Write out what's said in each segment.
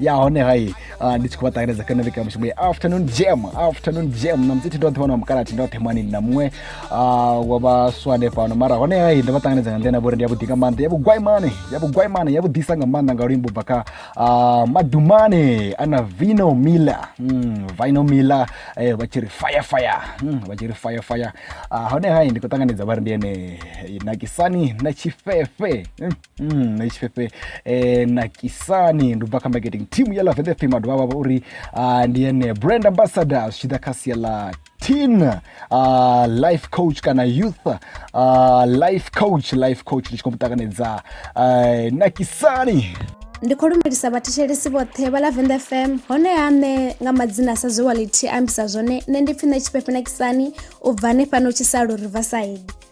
ya hone hai uh, ndi tshi khou vha ṱanganedza kana vhika mushumo ya afternoon jam afternoon jam na mudzithi ndo ḓi wana mukalathi ndo themani na muṅwe uh, wa vhaswa hanefhano mara hone hai ndo vha ṱanganedza nga nḓila vhori ndi yavhuḓi nga maanḓa yavhugwaimane yavhugwaimane yavhuḓisa nga maanḓa nga luimbo bva kha uh, madumane ana vino miller mm, vino miller eh, vha tshi ri fire fire mm, vha tshi ri fire fire uh, hone hai ndi khou ṱanganedza vha ri ndi ene nakisani na tshifefe mm. Mm, na tshifhefhe eh, na kisani ndi bva kha marketing team ya love fm a dovha vha vha uri ah, ndi ene brand ambassador zwi tshi ḓa kha sia ḽa teen uh, life coach kana youth uh, life coach life coach ndi tshi khou mu ṱanganedza uh, na kisani ndi khou lumelisa vhathetshelesi vhoṱhe vha lavenda fm honeha nṋe nga madzina a sa zwe walithi a ambisa zwone nṋe ndi pfi nṋe tshifhefhe na kisani u bva hanefhano tshisalo riverside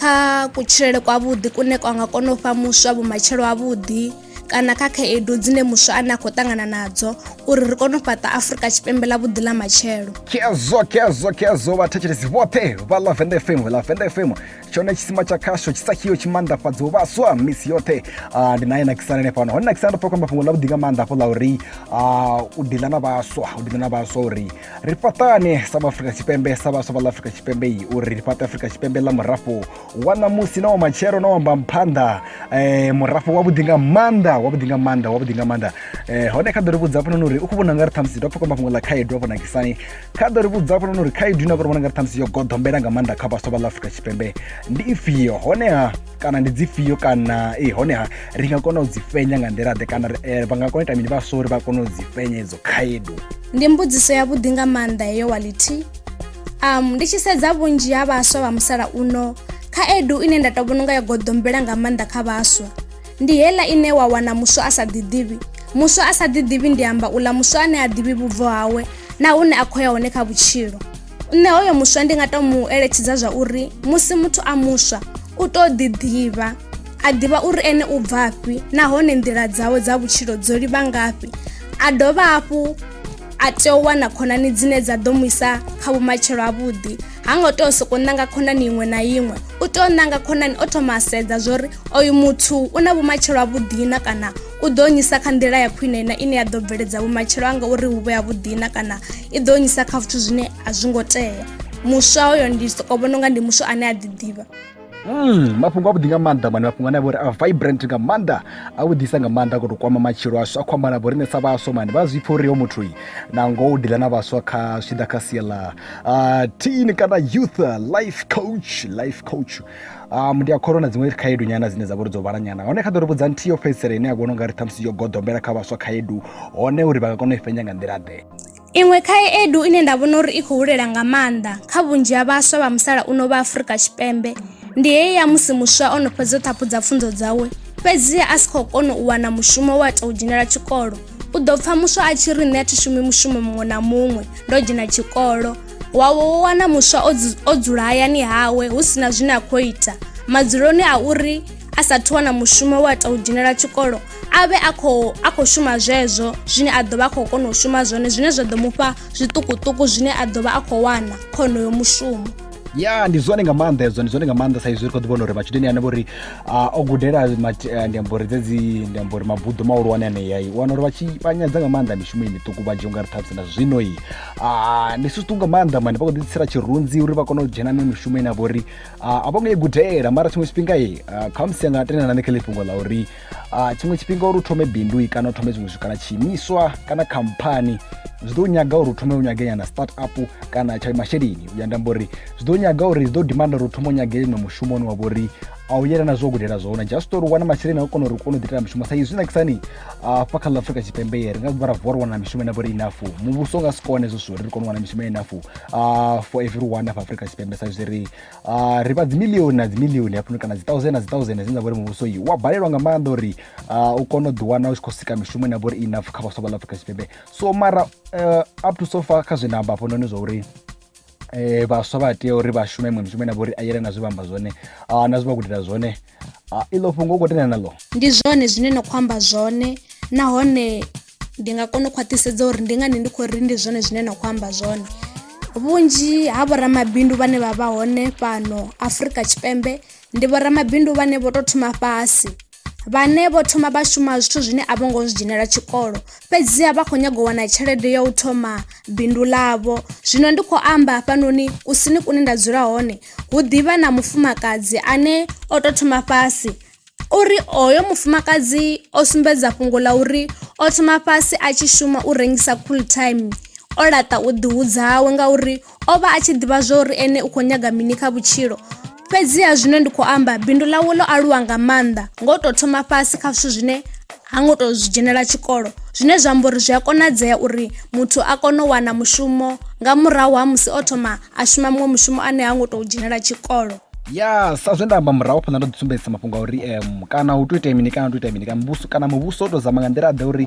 kha kutshilele kwavhuḓi kune kwa nga kona u fha muswa vhumatshelo havhuḓi kana kha khaedu dzine muswa ane a khou ṱangana nadzo uri ri kone u fhaṱa afurika tshipembe ḽa vhuḓi ḽa matshelo kezo kezo kezo vhathetshelesi vhoṱhe vha ḽa venda fm ḽa venda fm tshone tshisima tsha khasho tshi sa khiyo tshi maanḓafhadza u vhaswa misi yoṱhe ah, ndi naye nakisana ene fhano hone nakisana ndo pfa khamba fhungo ḽa vhuḓi nga maanḓa hafho ḽa uri ah, u dila na vhaswa u dila na vhaswa uri ri fhaṱane sa vhaafrika tshipembe sa vhaswa vha ḽa afrika tshipembe yi uri ri fhaṱe afrika tshipembe ḽa murafho wa ṋamusi na wa matshelo na wamba mphanḓa um murafho wavhuḓi nga maanḓa wavhuḓi nga maanḓa wavhuḓi nga maanḓa um hone kha ḓo ri vhudza hafhanoni uri u khou vhona nga ri ṱhamusi ndo pfhukamba fhungo ḽa khaedu afho nakisani kha ḓo ri vhudza hafhanoni uri khaedu ine a khou vhona nga ri ṱhamusi yo goḓombela nga maanḓa kha vhaswa vha ḽa afrika tshipembe ndi ifhio honeha kana ndi dzifhio kana e honeha ri nga kona u dzi fhenya nga nḓila ḓe kana eh, vha nga kona ita mini vha sori vha kona u dzi fhenya idzo khaedu ndi mbudziso ya vhuḓi nga maanḓa heyo wality um ndi tshi sedza vhunzhi ha vhaswa vha musalauno khaedu ine nda to vhona nga yo goḓombela nga maanḓa kha vhaswa ndi hela ine wa wana muswa a sa ḓiḓivhi muswa a sa ḓiḓivhi ndi amba uḽa muswa ane a ḓivhi vhubvo hawe na hune a khou ya hone kha vhutshilo nṋe hoyo muswa ndi nga to mu eletshedza zwa uri musi muthu a muswa u to ḓi ḓivha a ḓivha uri ene u bvafhi nahone nḓila dzawe dza vhutshilo dzo livha ngafhi a dovha hafhu a tea u wana khonani dzine dza ḓo mu isa kha vhumatshelo avhuḓi ha ngo tea u soko ṋanga khonani iṅwe na iṅwe u tea u ṋanga khonani o thoma a sedza zwori oyu muthu u na vhumatshelo avhuḓi na kana u ḓo nyisa kha nḓila ya khwine na ine ya ḓo bveledza vhumatshelo anga uri hu vhe yavhuḓi na kana i ḓo nyisa kha zwithu zwine a zwi ngo tea muswa hoyo ndi soko vhona unga ndi muswa ane a ḓiḓivha Mm, mafhungo avhuḓi nga maanḓa mani mafhungo ane a vhori a vibrant nga maanḓa a vhuḓisa nga maanḓa khou tou kwama matshilo ashu a khou amba na vho riṋe sa vhaswa mani vha zwi pfha uri yo muthu na ngoho u dila na vhaswa kha zwi tshi ḓa kha sia ḽa uh, teen kana youth life coach life coach um ndi a kholwa na dziṅwe khaedu nyana dzine dza vha uri dzo vhala nyana hone kha ḓo ri vhudza nthihi yo fhedzisela ine ya vhona ungari ṱhamusi yo goḓombela kha vhaswa khaedu hone uri vha nga kona u i fhenya nga nḓila ḓe iṅwe khaedu ine nda vhona uri i khou hulela nga maanḓa kha vhunzhi ha vhaswa vha musalauno vha afurika tshipembe ndi heyi ya musi muswa o no fhedza u ṱhaphudza pfunzo dzawe fhedzi a si khou kona u wana mushumo wa tou dzhenela tshikolo u ḓo pfha muswa a tshi ri nṋe a thi shumi mushumo muṅwe na muṅwe ndo dzhena tshikolo wa wo wana muswa o dzula hayani hawe hu si na zwine a khou ita madzuloni a uri a sathu wana mushumo wa tou dzhenela tshikolo a vhe a khou a khou shuma zwezwo zwine a ḓo vha a khou kona u shuma zwone zwine zwa ḓo mu fha zwiṱukuṱuku zwine a ḓo vha a khou wana khonoyo mushumo ya ndi zwone nga maanḓa hezwo ndi zwone nga maanḓa saizwi ri khou ḓivhona uri matshudeni ane vhori o gudela eh, ndi amba uri dzedzi ndi amba uri mabuḓo mahulwane aneyai u wana uri vha tshi vha nyadza nga maanḓa mishumo i miṱuku vhanzhi u nga ri ṱhamusi na zwino i Ah, ndi zwithu nga maanḓa mani vha khou ḓitsela tshirunzi uri vha kone u dzhena ne mishumo ine a vha uri ah, a vho ngo i gudela mara tshiṅwe tshifhinga i ah, kha musi anga tendelana nṋe kha ḽi fhungo ḽa uri ah, tshiṅwe tshifhinga uri u thome bindu i kana u thome zwiṅwe zwithu kana tshiimiswa kana khamphani zwi ḓo nyaga uri u thome u nyage nyana start up kana tsha masheleni u ya ndamba uri zwi ḓo nyaga uri zwi ḓo dimanda uri u thome u nyage no mushumo une wa vha uri a u yelana zwo gudela zwone just uri u wana masheleni a u kona uri u kone u ḓitela mushumo sa izwi nakisani hafha kha ḽa afrika tshipembe ye ri nga vha ra vuwa ri wana mishumo ine vhori inafu muvhuso u nga si kone hezwo zwithu uri ri kone u wana mishumo inafu uh, for everyone hafha afrika tshipembe sa izwi ri uh, ri vha dzimilioni na dzimilioni hafhano kana dzi thousand na dzi thousand dzine dza vhori muvhuso yi wa balelwa nga maanḓa uri uh, u kone u ḓiwana u tshi khou sika mishumo ine vhori inafu kha vhaswa vha ḽa afrika tshipembe so mara uh, up to so far kha zwe nda amba hafhanoni zwa uri eh vhaswa vha tea uri vha shume iṅwe mishumo ine vha uri a yelana zwe vha amba zwone ah, na zwe vha gudela zwone ah, iḽo fhungo u khou tendelana naḽo ndi zwone zwine no khou amba zwone nahone ndi nga kona u khwaṱhisedza uri ndi ngani ndi khou ri ndi zwone zwine na khou amba zwone vhunzhi ha vhoramabindu vhane vha vha hone fhano afrika tshipembe ndi vhoramabindu vhane vho tou thoma fhasi vhane vho thoma vha shuma zwithu zwine a vho ngo zwi dzhenela tshikolo fhedziha vha khou nyanga u wana tshelede ya u thoma bindu ḽavho zwino ndi khou amba hafhanoni kusini kune nda dzula hone hu ḓivha na mufumakadzi ane o tou thoma fhasi uri hoyo mufumakadzi o sumbedza fhungo ḽa uri o thoma fhasi a tshi shuma u rengisa cool time o laṱa u ḓihudzawe ngauri O vha a tshi ḓivha zwa uri ene u khou nyaga mini kha vhutshilo. Fhedziha zwino ndi khou amba, bindu ḽawe ḽo aluwa nga maanḓa nga u tou thoma fhasi kha zwithu zwine ha ngo tou zwi dzhenela tshikolo, zwine zwa amba uri zwi a konadzea uri muthu a kone u wana mushumo nga murahu ha musi o thoma a shuma muṅwe mushumo ane ha ngo tou dzhenela tshikolo. ya sa zwe nda amba murahu phanḓa ndo ḓi sumbedzisa mafhungo a uri um kana hu to ita mini kana hu to ita mini kana muvhuso kana muvhuso u to zama nga nḓila ḓe uri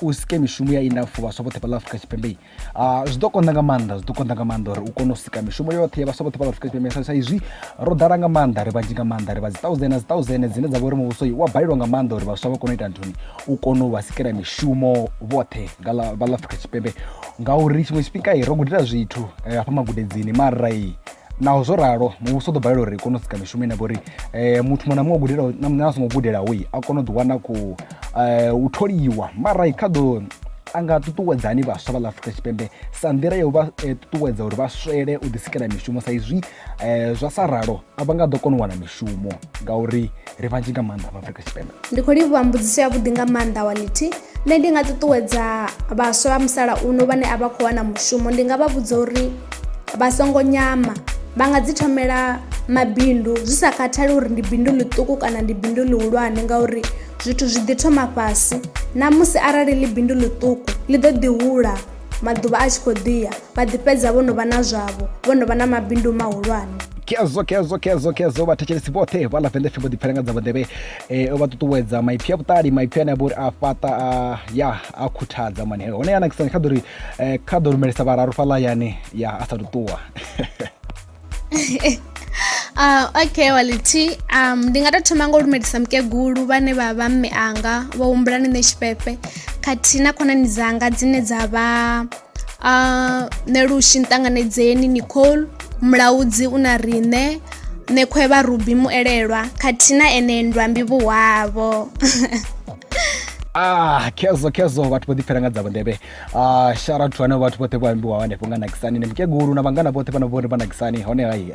u sike mishumo ya ina for vhaswa vhoṱhe fhaḽa afrika tshipembe Ah, zwi ḓo konḓa nga maanḓa zwi ḓo konḓa nga maanḓa uri u kone u sika mishumo yoṱhe ya vhaswa vhoṱhe vha nga swika tshipembe sa izwi ro ḓala nga maanḓa ri vhanzhi nga maanḓa ri vha dzi thousand na dzi thousand dzine dza vha uri muvhuso wa balelwa nga maanḓa uri vhaswa vha kone u ita nthuni u kone u vha sikela mishumo vhoṱhe nga ḽa vha ḽa afrika tshipembe ngauri tshiṅwe tshifhinga ro gudela zwithu eh, hafha magudedzini mara naho zwo ralo muvhuso u ḓo balelwa uri i kone u sika mishumo ine vha uri um muthu muṅwe na muṅwe gudelaho na a songo gudelaho i a kona u ḓiwana ku um eh, u tholiwa mara i kha ḓo a nga ṱuṱuwedza hani vhaswa vha ḽa afrika tshipembe sa nḓila ya u vha eh, ṱuṱuwedza uri vha swele u ḓisikela mishumo sa izwi um zwa sa ralo a vha nga ḓo kona u wana mishumo ngauri ri vhanzhi nga maanḓa vhaafrika tshipembe ndi khou livhuwa mbudziso yavhuḓi nga maanḓa wality nṋe ndi nga ṱuṱuwedza vhaswa vha musalauno vhane a vha khou wana mushumo ndi nga vha vhudza uri vha songo nyama vha nga dzi thomela mabindu zwi sa khathali uri ndi bindu ḽiṱuku kana ndi bindu ḽihulwane ngauri zwithu zwi ḓi thoma fhasi na musi arali ḽi bindu ḽiṱuku ḽi ḓo ḓi hula maḓuvha a tshi khou ḓiya vha ḓi fhedza vho no vha na zwavho vho no vha na mabindu mahulwane kezo kezo kezo kezo vhathetshelesi vhoṱhe vha lavende fimbo ḓipfela nga dza vhundevhe um vha ṱuṱuwedza maipfi a vhuṱali maipfi ane a vha uri a fhaṱa ya a khuthadza mani heyo hone ya nakisani kha ḓo ri eh, kha ḓo rumelisa vhararu fhaḽa yani ya a sa ṱuṱuwa Uh, okay wality um, ndi nga tou thoma nga u lumelisa mukegulu vhane vha vha mme anga vho humbula ni nṋe tshifhefe khathihi na khonani dzanga dzine dza vha uh, ah, ne lushi nṱanganedzeni nicole mulaudzi u na riṋe nekhwe vha rubi muelelwa khathihi na ene ndwambi vhuhwavho ah kezo kezo vhathu vho ḓipfela nga dzavho ndebe Ah, shout out to vhane vhathu vhoṱhe vho ambiwa hanefho nga nakisani ni mukegulu na vhangana vhoṱhe vhana vhori vha nakisani hone hai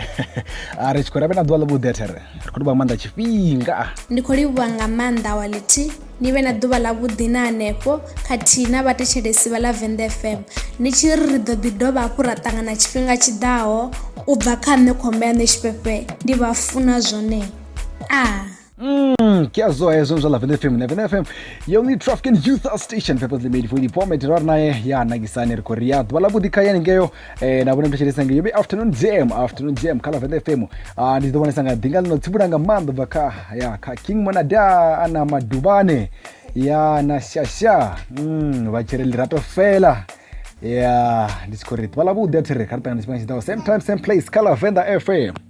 Ah, ri tshi khou ri vhe na ḓuvha ḽavhuḓi athere ri khou livha nga maanḓa tshifhinga ndi khou livhuwa nga maanḓa awaliti ni vhe na ḓuvha ḽa vhuḓi na hanefho khathihi na vhathetshelesi vha lavenda fm ni tshi ri ri ḓo ḓi dovha hafhu ra ṱangana tshifhinga tshiḓaho u bva kha nṋe khomba ya nṋe tshifhefhe ndi vha funa zwone a Mm, ke a zoa hezwo zwa lavene fm lavene fm yo ni traffic and youth station purposely made for the poor mate ra naye ya nakisani ri khori ya ḓuvha ḽa vhuḓi kha yani ngeyo eh na vhone mthetshelesa ngeyo be afternoon jam afternoon jam kha lavene fm ah ndi ḓo vhonesa nga ḓinga ḽino tsibula nga maanḓa bva kha ya kha king monada ana maduvhane ya na shasha mm vha tshire lirato fela ya ndi tshi khori ḓuvha ḽa vhuḓi a thiri kha ri ṱangana tshifhinga tshiḓaho same time same place kha lavenda fm